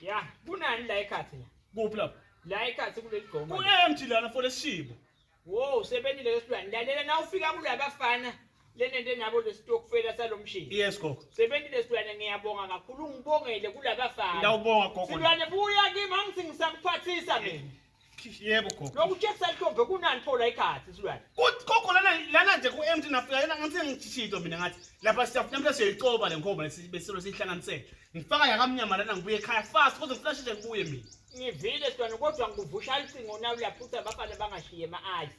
ya kunani la ekhathi la kuphi lapho la ekhathi kuleli gqoma ku-empty lana for lesishibo wo usebenzile lesilwane lalela na ufika kulabafana lenento enabo lesitokufela salomshini yes gogo sebenzile silwane ngiyabonga kakhulu ungibongele kulabafana ngiyawubonga gogo silwane buya kimi angithi ngisakuphathisa mina Yebo gogo. Lokutshekisa intombi kunani pho la ikhathi silwane. Kuthi gogo lana lana nje ku empty nafika yena ngathi ngithishito mina ngathi lapha siyafuna mhlawumbe siyoyicoba le nkomo lesi besilo sihlanganisele. Ngifaka yakamnyama lana ngibuye ekhaya fast kodwa ngifuna sheshe ngibuye mina. Ngivile silwane kodwa ngikuvusha icingo nawe uyaphutha bafana bangashiye ma-ayisi.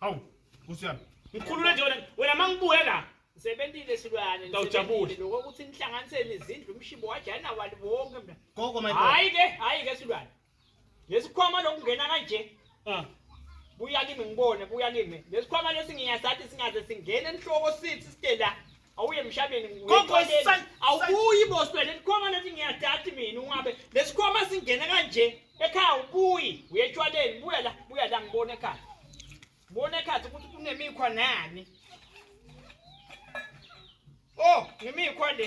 Hawu, Nkosi yami. Ngikhulule nje wena, wena mangibuye la. Sebentile silwane. Ngawujabule. Lokho ukuthi inhlanganisele izindlu umshibo wajana wali wonke mina. Gogo my boy. Hayi ke, hayi ke silwane. Lesikhwama lokungena kanje. Ah. Buya kimi ngibone, buya kimi. Lesikhwama lesi ngiyasathi singaze singene enhloko sithi sithe la. awuye emhlabeni awubuyi boswe lesikhwama lesi ngiyadati mina ungabe lesikhwama singena kanje ekhaya ubuyi uye etshwaleni buya la buya la ngibona ekhaya bona ekhaya ukuthi kunemikhwa nani oh ngimikhwa le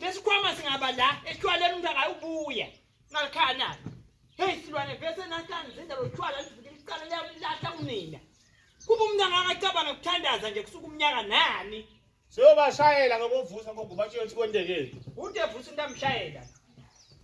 Lesikhwama singaba la eshwaleni umuntu akayubuya. Ngalikhana. Hey silwane vese nahlanje zenza lo shwala livikela iqala liyamlahla kunina. Kuba umuntu angakacabanga ukuthandaza nje kusuka umnyaka nani. Seyobashayela ngokuvusa ngokubatshela ukuthi kwendekeni. Ude vusa into amshayela.